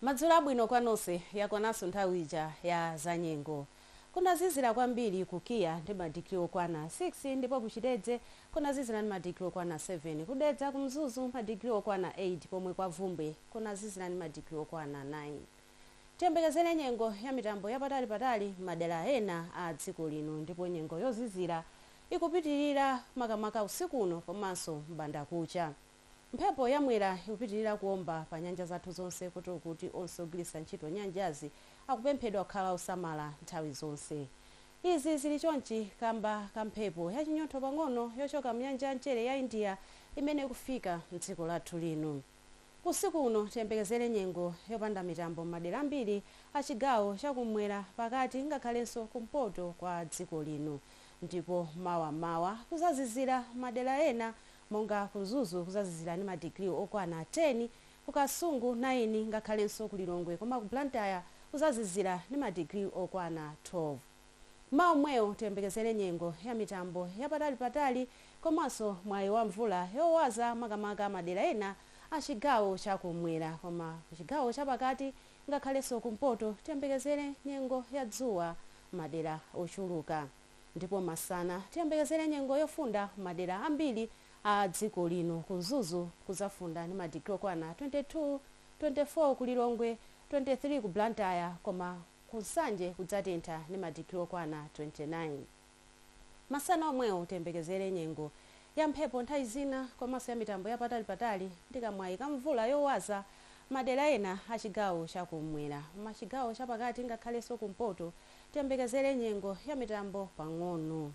Madzulo abwino kwa nonse, yakwananso nthawi ija ya zanyengo. Kunazizira kwambiri ku KIA ndi madigiri okwana 6 ndipo ku Chitedze kunazizira ndi madigiri okwana 7. Ku Dedza, ku Mzuzu madigiri okwana 8 pomwe kwa Bvumbwe kunazizira ndi madigiri okwana 9. Tiyembekezere nyengo ya mitambo yapatalipatali m'madera ena a dziko lino ndipo nyengo yozizira ikupitirira makamaka usiku uno komanso m'bandakucha. Mphepo ya Mwera ikupitilira kuomba pa nyanja zathu zonse koti kuti onse ogwiritsa ntchito nyanjazi akupemphedwa kukhala osamala nthawi zonse. Izi zili chonchi kamba ka mphepo ya chinyontho pang'ono yochoka mnyanja ya mchere ya India imene ikufika mdziko lathu lino. Usiku uno tiyembekezere nyengo yopanda mitambo m'madera ambiri a chigawo cha kum'mwera, pakati ngakhalenso kumpoto kwa dziko lino ndipo mawa m'mawa kuzazizira m'madera ena monga ku Mzuzu kuzazizira ndi ma degree okwana 10, ku Kasungu 9 ngakhalenso ku Lilongwe koma ku Blantyre kuzazizira ndi ma degree okwana 12. Mmawa omwewo tiyembekezere nyengo ya mitambo yapatali patali komanso mwayi wa mvula yowaza makamaka madera ena a chigawo cha kummwera koma ku chigawo cha pakati ngakhalenso kumpoto tiyembekezere nyengo ya dzuwa madera ochuluka. Ndipo masana tiyembekezere nyengo yofunda madera ambiri a dziko lino. Ku Mzuzu kuzafunda ndi madigiri okwana 22, 24 ku Lilongwe, 23 ku Blantyre koma ku Nsanje kudzatentha ndi madigiri okwana 29. Masana omwewo tiyembekezere nyengo ya mphepo nthawi zina komanso ya mitambo ya patalipatali ndi kamwayi ka mvula yowaza m'madera ena a chigawo cha kummwera m'chigawo chapakati ngakhalenso kumpoto tiyembekezere nyengo ya mitambo pang'ono.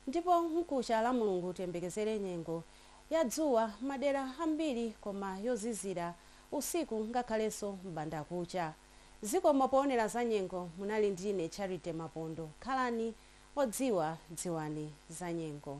Ndipo mkucha lamulungu tiyembekezere nyengo ya dzuwa mmadera ambiri koma yozizira usiku ngakhalenso m'bandakucha. Zikomo poonera zanyengo munali ndi ine Charity Mapondo. Khalani odziwa dziwani zanyengo.